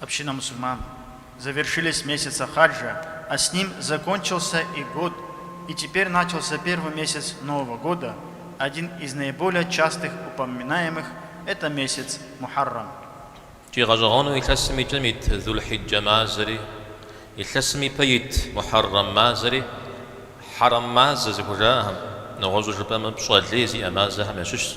Община мусульман завершились месяца хаджа, а с ним закончился и год, и теперь начался первый месяц Нового года, один из наиболее частых упоминаемых это месяц Мухаррам. Икӏи гъэщӏэгъуэну илъэсым и кӏэм ит Зулхьиджэ мазэри, илъэсым и пэ ит Мухьэррэм мазэри хьэрэм мазэ зыхужаӏэхэм, нэгъуэщӏу жыпӏэмэ пщӏэ лей зиӏэ мазэхэм ящыщщ.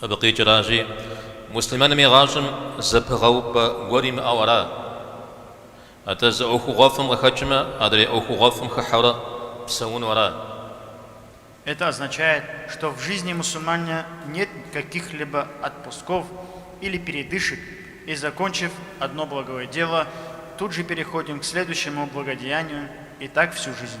Абы къикӏыращи, муслъымэным и гъащӏэм зэпыгъэупӏэ гуэр имыӏэу ара, атӏэ зы ӏуэхугъуэфӏым къыхэкӏмэ, адрей ӏуэхугъуэфӏым хыхьэурэ псэуну ара. Это означает, что в жизни мусульманина нет каких-либо отпусков или передышек, и закончив одно благое дело, тут же переходим к следующему благодеянию, и так всю жизнь.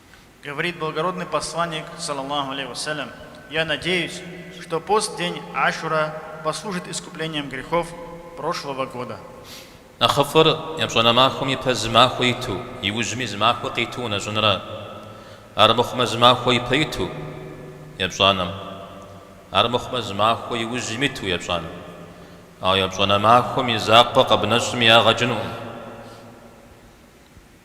Говорит благородный Посланник, салаллаху алейхи ва салям, Я надеюсь, что пост день Ашура послужит искуплением грехов прошлого года. Нэхъыфӏыр епщӏанэ махуэм ипэ зы махуэ иту, иужьми зы махуэ къиту унэщӏынра. Армыхъумэ зы махуэ ипэ иту, епщӏанэм. Армыхъумэ зы махуэ иужьым иту, епщӏанэм. Ауэ епщӏанэ махуэм и закъуэ къэбнэщӏми ягъэ кӏынукъым.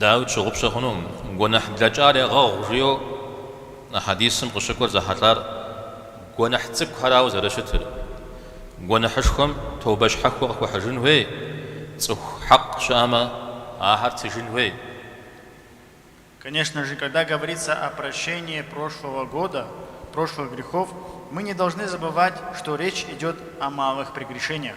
Дауи, тщыгъупщэ хъунукъым, гуэныхь блэкӏар егъэгъу, жиӏэу а хьэдисым къыщыкӏуэр зэхьэлӏар гуэныхь цӏыкӏухэрауэ зэрыщытыр. Гуэныхьышхуэм тобэ щхьэхуэ къыхуэхьыжын хуей, цӏыху хьэкъ щыӏэмэ, ахэр тыжын хуей. Конечно же, когда говорится о прощении прошлого года, прошлых грехов, мы не должны забывать, что речь идет о малых прегрешениях.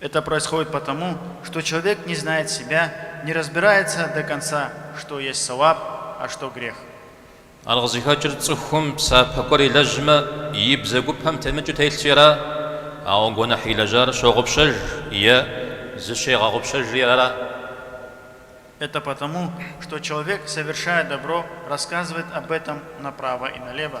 Это происходит потому, что человек не знает себя, не разбирается до конца, что есть сауаб, а что грех. Ар къызыхэкӏыр цӏыхум псапэ гуэр илэжьмэ, и бзэгупэм темыкӏыу телъщи ара, ауэ гуэныхь илэжьар щогъупщэж е зыщегъэгъупщэжри ара. Это потому, что человек, совершая добро, рассказывает об этом направо и налево.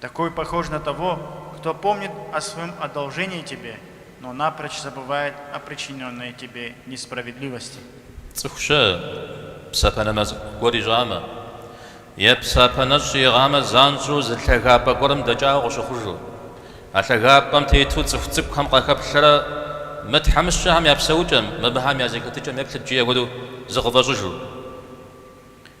Такой похож на того, кто помнит о своем одолжении тебе, но напрочь забывает о причиненной тебе несправедливости. Цӏыху щыӏэ, псапэ нэмэз гуэр ищӏамэ, е псапэ нэщӏ иӏыгъамэ, занщӏэу зы лъагапӏэ гуэрым дэкӏауэ къыщыхъужу, а лъагапӏэм тету цӏыху цӏыкӏухэм къахэплъэрэ мы тхьэмыщкӏэхэм я псэукӏэм, мыбыхэм я зэхэтыкӏэм еплъыт, жиӏэ хуэдэу зыкъыфӏэщӏыжу.